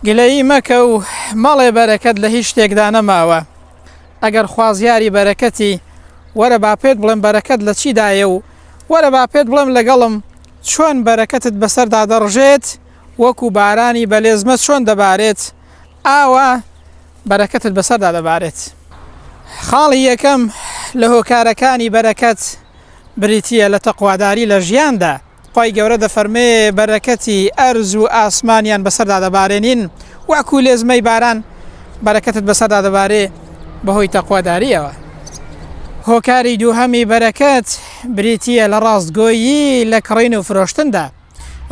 گلەیی مەکە و مەڵێ بەرەکەت لە هیچ شتێکدا نەماوە ئەگەر خوازیاری بەرەکەتی وەرە با پێت بڵێم بەرەکەت لە چیدایە و وەرە با پێت بڵێم لەگەڵم چۆن بەرەکەتت بەسەردا دەڕژێت وەکو بارانی بەلێزمە چۆن دەبارێت ئاوا بەرەکەتت بەسەردا دەبارێت خاڵی یەکەم لە هۆکارەکانی بەرەکەت بریتە لە تەقواداری لە ژیاندا خوای گەورە دەفەرمێ، بەرەکەتی ئەرز و ئاسمانیان بەسەردا دەبارێنین وەکو لێزمەی باران، بەرەکەتت بەسەردا دەبارێ بەهۆی تەقوادارییەوە. هۆکاری دووهەمی بەرەکەت بریتییە لە ڕاستگۆیی لە کڕین و فرۆشتندا.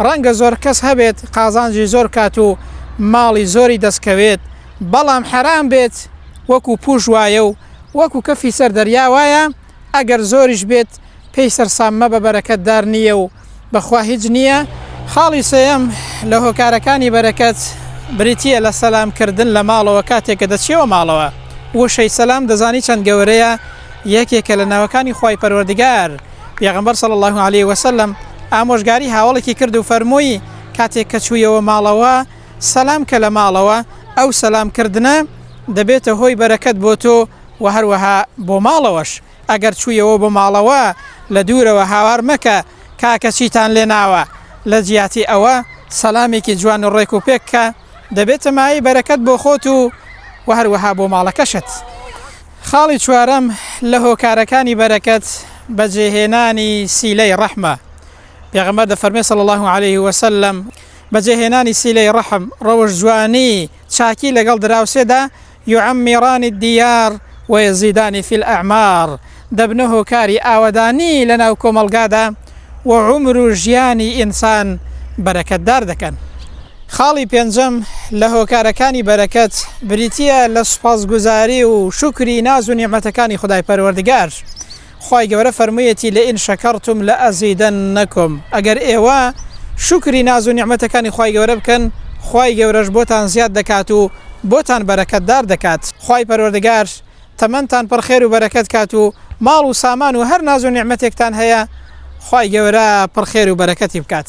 ڕەنگە زۆر کەس هەبێت قازانجی زۆر بکات و ماڵی زۆری دەستکەوێت، بەڵام حەرام بێت وەکو پووش وایە و وەکو کەفی سەر دەریا وایە، ئەگەر زۆریش بێت پێی سەرسام مەبە بەرەکەت دار نییە و بەخوا هیچ نییە. خاڵی سێیەم لە هۆکارەکانی بەرەکەت بریتییە لە سەلام کردن لە ماڵەوە کاتێک کە دەچیەوە ماڵەوە. وشەی سەلام دەزانی چەند گەورەیە یەکێکە لە ناوەکانی خوای پەروەردگار، پێغەمبەر صلی اللە علیە وسلم ئامۆژگاری هاوەڵێکی کرد و فەرمووی کاتێک کە چوویەوە ماڵەوە سەلام کە لە ماڵەوە ئەو سەلام کردنە دەبێتە هۆی بەرەکەت بۆ تۆ، وە هەروەها بۆ ماڵەوەش ئەگەر چوویەوە بۆ ماڵەوە لە دوورەوە هاوار مەکە کاکە چیتان لێ ناوە لە جیاتی ئەوە سەلامێکی جوان و ڕێک و پێک کە دەبێتە مایەی بەرەکەت بۆ خۆت و وە هەروەها بۆ ماڵەکەشت. خاڵی چوارەم لە هۆکارەکانی بەرەکەت بەجێهێنانی سیلەی ڕەحمە، پێغەمبەر دەفەرمێ صلی اللە علیە وسلم، بەجێهێنانی سیلەی ڕەحم، ڕەوشت جوانی، چاکی لەگەڵ دراوسێدا یعمران الدیار و یزیدان فی الاعمار، دەبنە هۆکاری ئاوەدانی لە ناو کۆمەڵگادا و عومر و ژیانی ئینسان بەرەکەتدار دەکەن. خاڵی پێنجەم لە هۆکارەکانی بەرەکەت بریتییە لە سوپاسگوزاری و شوکری ناز و نیعمەتەکانی خودای پەروەردگار. خوای گەورە فەرموویەتی لئن شکرتم لازیدنکم ئەگەر ئێوە شوکری ناز و نیعمەتەکانی خوای گەورە بکەن خوای گەورەش بۆتان زیاد دەکات و بۆتان بەرەکەتدار دەکات. خوای پەروەردگار تەمەنتان پڕ خێر و بەرەکەت کات و ماڵ و سامان و هەر ناز و نیعمەتێکتان هەیە خوای گەورە پڕ خێر و بەرەکەتی بکات.